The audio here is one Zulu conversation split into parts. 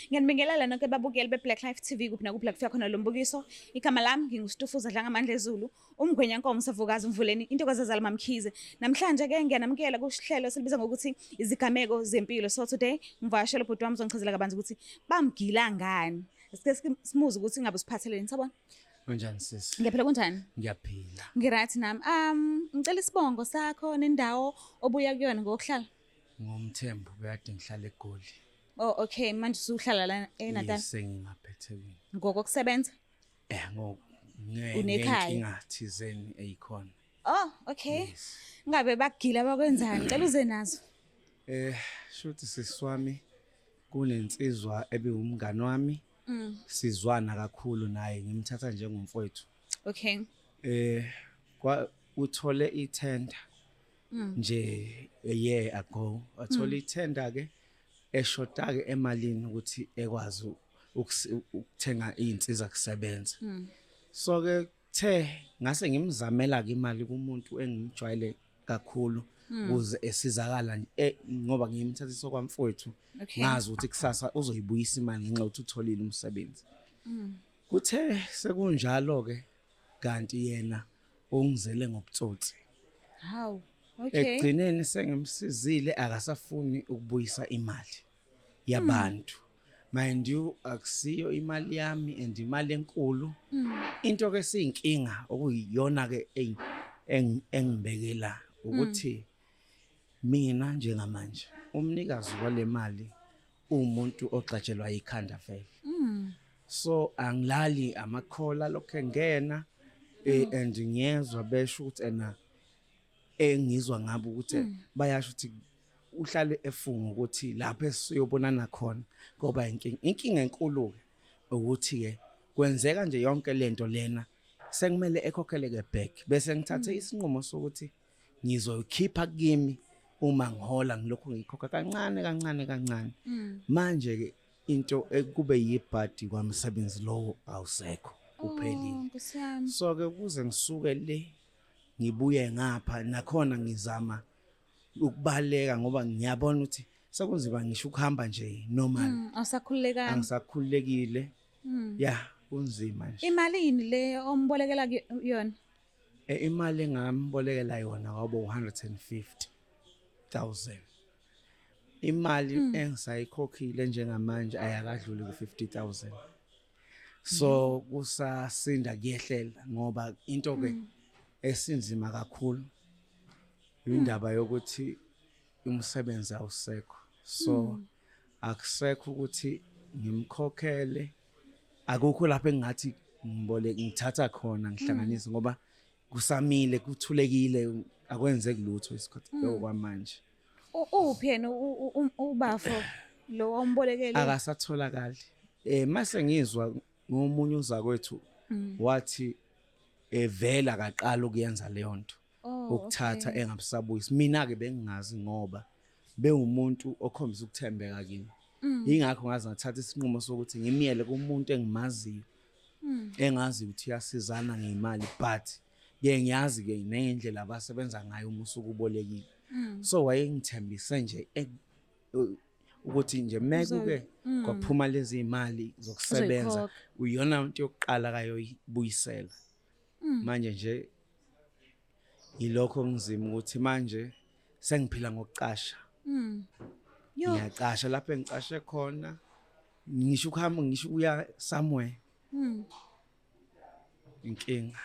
Ngiyanibingelela nonke babukeli be-Black Life TV kuphi nakuphi la kufika khona lo mbukiso. Igama lami nginguStufuza Dlangamandla Ezulu, umgwenya nkomo savukazi umvuleni intokazi ezala mamkhize. Namhlanje ke ngiyanamukela kuhlelo silibiza ngokuthi izigameko zempilo. So today ngivakashela ubhuti wami uzongichazela kabanzi ukuthi bamgila ngani. Sike simuze ukuthi ngabe usiphatheleni, sabona? Unjani sisi? Ngiyaphila kunjani? Ngiyaphila. Ngirathi nami. Um ngicela isibongo sakho nendawo obuya kuyona ngokuhlala. Ngomthembu kuyade ngihlale eGoli. Oh okay manje usuhlala la eNatal. Yes ngingapha eThekwini. Ngokokusebenza? Eh ngoko. Unekhaya. Nginga thizeni eyikhona. Oh okay. Yes. Ngabe bagila bakwenzani? Cela uze nazo. Eh shuthi siswami kunensizwa ebiwumngani wami. Mm. Sizwana kakhulu naye ngimthatha njengomfowethu. Okay. Eh kwa uthole ithenda. Mm. Nje a year ago. Wathole mm. ithenda ke. eshodake emalini ukuthi ekwazi ukuthenga izinsiza kusebenza hmm. so ke the ngase ngimzamela ke imali kumuntu engimjwayele kakhulu hmm. kuze esizakala eh, ngoba ngiyimthathisa kwamfowethu ngazi ukuthi kusasa uzoyibuyisa imali ngenxa ukuthi utholile umsebenzi hmm. kuthe sekunjalo ke kanti yena mm. ungizele ngobutsotsi hawu okay ekugcineni sengimsizile akasafuni ukubuyisa imali yabantu hmm. mind you akusiyo imali yami and imali enkulu hmm. into ke siyinkinga okuyiyona ke engibekela ukuthi hmm. mina njengamanje umnikazi walemali umuntu ogxatshelwa ikhanda vele mm. so angilali amakhola lokho engena eh, mm. and ngiyezwa besho ukuthi ena engizwa ngabo ukuthi mm. bayasho ukuthi uhlale efunga ukuthi lapho esiyobonana khona ngoba inkinga inkinga enkulu ke ukuthi ke kwenzeka nje yonke lento lena sekumele ekhokhele ke back bese ngithathe mm. isinqumo sokuthi ngizoyikhipha kimi uma ngihola ngilokhu ngikhokha kancane kancane kancane mm. manje ke into ekube yibhadi kwamsebenzi lowo awusekho kuphelile oh, so ke kuze ngisuke le ngibuye ngapha nakhona ngizama ukubaleka ngoba ngiyabona ukuthi sekunzima ngisho ukuhamba nje normal mm, awusakhululekanga angisakhululekile mm. yeah kunzima nje imali yini le ombolekela yona Eh, imali engambolekela yona kwabo 150000 imali hmm. engisayikhokhile njengamanje ayakadluli ku 50000 so hmm. kusasinda kuyehlela ngoba into ke hmm. esinzima kakhulu indaba yokuthi umsebenzi awusekho so akusekho ukuthi ngimkhokhele akukho lapho engathi ngibole ngithatha khona ngihlanganise ngoba kusamile kuthulekile akwenzeki lutho isikhathi mm. lokho kwamanje uphi yena ubafo lo ombolekele akasatholakali eh mase ngizwa ngomunye uzakwethu mm. wathi evela kaqala ukuyenza leyo nto Oh, ukuthatha okay. engabusabuyisi mina ke bengingazi ngoba bewumuntu okhombisa ukuthembeka kimi mm. ingakho ngaze ngathatha isinqumo sokuthi ngimyele kumuntu engimaziyo mm. engazi ukuthi yasizana ngemali but ke ngiyazi ke nendlela abasebenza ngayo uma usukubolekile mm. so wayengithembise nje e, ukuthi nje mekuke mm. kwaphuma lezi imali zokusebenza uyona into yokuqala kayo ibuyisela mm. manje nje yilokho ngizima ukuthi manje sengiphila ngokucasha mm. ngiyacasha lapho engicashe khona ngisho ukuhamba ngisho uya somewhere mm. inkinga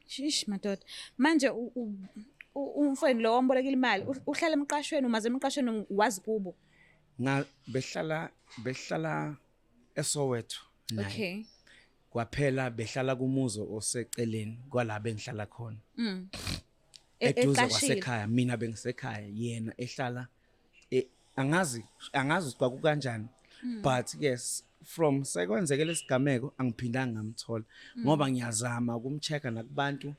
shish madoda manje umfweni lo ombolekile imali uhlala emqashweni umaze emqashweni wazi kubo nga behlala behlala eSoweto naye okay kwaphela behlala kumuzo oseceleni kwala bengihlala khona mm. E- eduze eqashile. kwasekhaya mina bengisekhaya yena ehlala e- angazi angazi ukuthi kwaku kanjani Hmm. but yes from sekwenzeke lesigameko angiphindanga ngamthola Hmm. ngoba ngiyazama ukumcheck nakubantu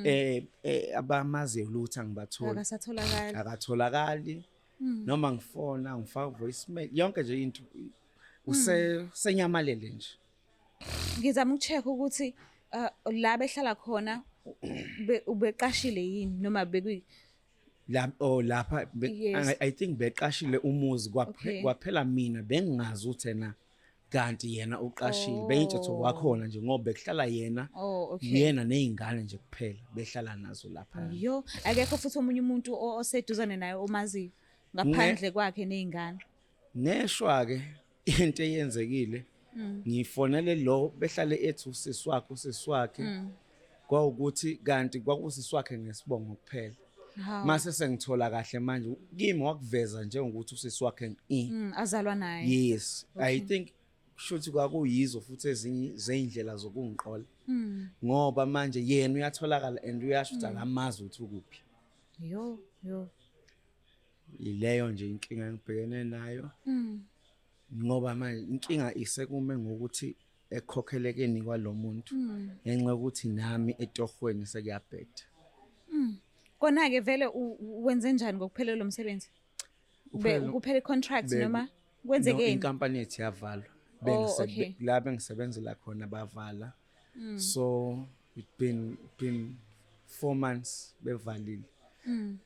eh eh, abamaziyo lutho angibatholi akasatholakali akatholakali mm. noma ngifona ngifaka voice mail yonke nje into use mm. senyamalele nje ngizama ukucheck ukuthi uh, la behlala khona ubeqashile yini noma bekwi la oh lapha yes. i think beqashile umuzi kwaphela mina bengingazi uthena kanti yena uqashile oh. beyintshatho wakhona nje ngoba bekuhlala yena oh, okay. yena nezingane nje kuphela behlala nazo lapha yo akekho futhi omunye umuntu oseduzane naye omaziyo ngaphandle kwakhe nezingane neshwa ke into eyenzekile mm. ngifonele lo behlale ethi usisi wakhe usisi wakhe mm. kwawukuthi kanti kwakusiswakhe ngesibongo kuphela mase sengithola kahle manje kimi wakuveza njengokuthi usiswakhe i mm, azalwa naye yes okay. i think shuthi kwakuyizo futhi ezinye zeindlela zokungiqola mm. ngoba manje yena uyatholakala and uyasho ukuthi mm. akamazi ukuthi ukuphi yo yo ileyo nje inkinga engibhekene nayo mm. ngoba manje inkinga isekume ngokuthi ekukhokhelekeni kwalo muntu mm. ngenxa yokuthi nami etohweni sekuyabheda mm. kona-ke vele wenze njani ngokuphelelwa lo msebenzi kuphela i-contract noma kwenzekeni inkampani yethu yavalwa oh, la bengisebenzela khona bavala mm. so it been been four months bevalile mm.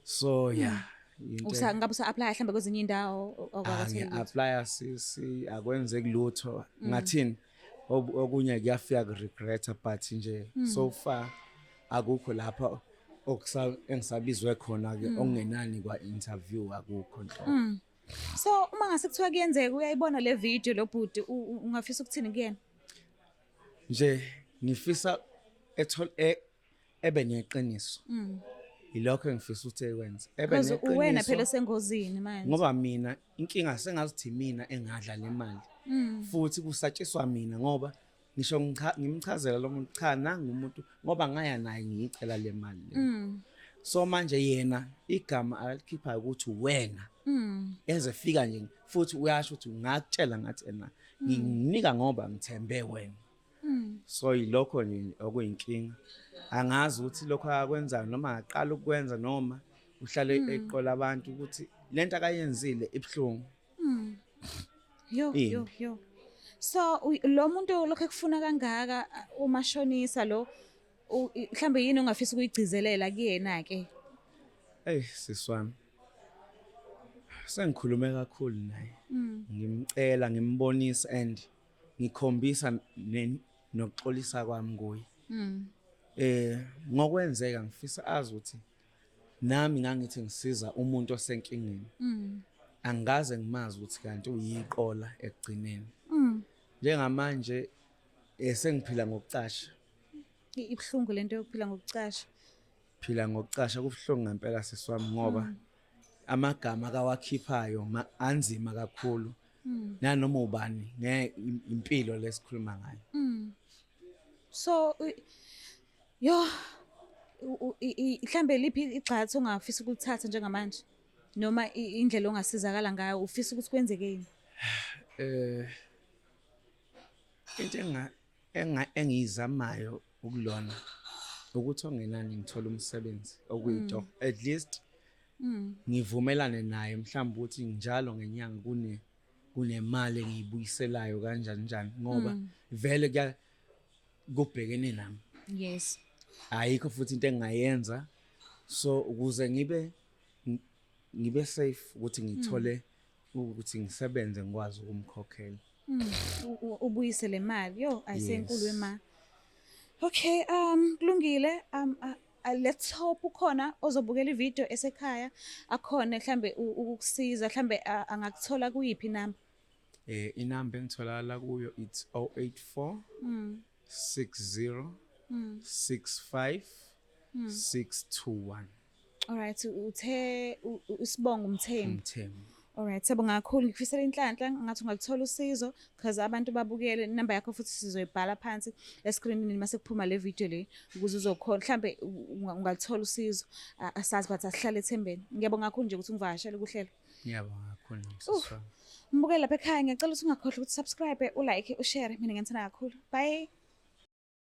so yeah hmm. Usa ngabe usa apply hlambe kwezinye indawo okwakuthenga. Ah, ngi apply sisi akwenzeki lutho. Hmm. Ngathini? Okunye kuyafika ku regret but nje hmm. so far akukho lapha okusa engisabizwe khona ke okungenani kwa interview akukho nhlobo. So uma ngase kuthiwa kuyenzeka uyayibona le video lobhuti ungafisa ukuthini kuyena? Nje ngifisa ethol e, ebe neqiniso mm. yilokho engifisa ukuthi ekwenze ebe neqiniso uwena phela sengozini manje ngoba mina inkinga sengazithi mina engadla le mali mm. futhi kusatshiswa mina ngoba ngisho ngimchazela lo muntu cha nangu umuntu ngoba ngaya naye ngiyicela le mali le mm. so manje yena igama alikhiphayo ukuthi wena mm. eze fika nje futhi uyasho ukuthi ngakutshela ngathi ena mm. nginika ngoba ngithembe wena Hmm. so yilokho nje okuyinkinga angazi ukuthi lokho akwenzayo noma aqala ukwenza noma uhlale hmm. eqola abantu ukuthi lento akayenzile ibuhlungu hmm. yo yo yo so lo muntu lokho ekufuna kangaka umashonisa lo mhlambe yini ongafisa ukuyigcizelela kuyena ke hey siswami sengikhulume kakhulu naye ngimcela ngimbonisa and ngikhombisa nokuxolisa kwami kuye mm. eh ngokwenzeka ngifisa azi ukuthi nami ngangithi ngisiza umuntu osenkingeni mm. angaze ngimazi ukuthi kanti uyiqola ekugcineni mm. njengamanje esengiphila eh, ngokucasha ibhlungu lento yokuphila ngokucasha Phila ngokucasha kubuhlungu ngempela sisi wami ngoba mm. amagama akawakhiphayo anzima kakhulu. Mm. Nanoma ubani ngeke impilo lesikhuluma ngayo. Mm. So yo mhlambe liphi igxathu ongafisa ukulithatha njengamanje noma indlela ongasizakala ngayo ufisa ukuthi kwenzeke yini eh into enga engiyizamayo ukulona ukuthi ongenani ngithola umsebenzi okuyitoho mm. at least mm. ngivumelane naye mhlawumbe ukuthi njalo ngenyanga kune kunemali engiyibuyiselayo kanjani njani ngoba mm. vele kuya kubhekene nami yes ayikho futhi into engayenza so ukuze ngibe ngibe safe ukuthi ngithole mm. ukuthi ngisebenze ngikwazi ukumkhokhela mm, ubuyise le mali yo ayisenkulu yes. ema okay um kulungile um uh, uh, let's hope ukhona ozobukela ivideo esekhaya akhona mhlambe ukukusiza mhlambe uh, angakuthola kuyiphi namba eh inamba engitholakala kuyo it's 084 mm. 60 mm. 65 mm. 621 Alright uthe usibonga umthembu. Umthembu. Alright siyabonga kakhulu ngikufisela inhlanhla ngathi ungalithola usizo because abantu babukele inamba yakho futhi sizoyibhala phansi escreenini mase kuphuma le video le ukuze uzokhona mhlambe ungalithola usizo asazi but asihlale ethembeni ngiyabonga kakhulu nje ukuthi ungivakashele kuhlelo ngiyabonga kakhulu msisi wami mbukele lapha ekhaya ngiyacela ukuthi ungakhohlwa ukuthi subscribe ulike ushare mina ngiyamthanda kakhulu bye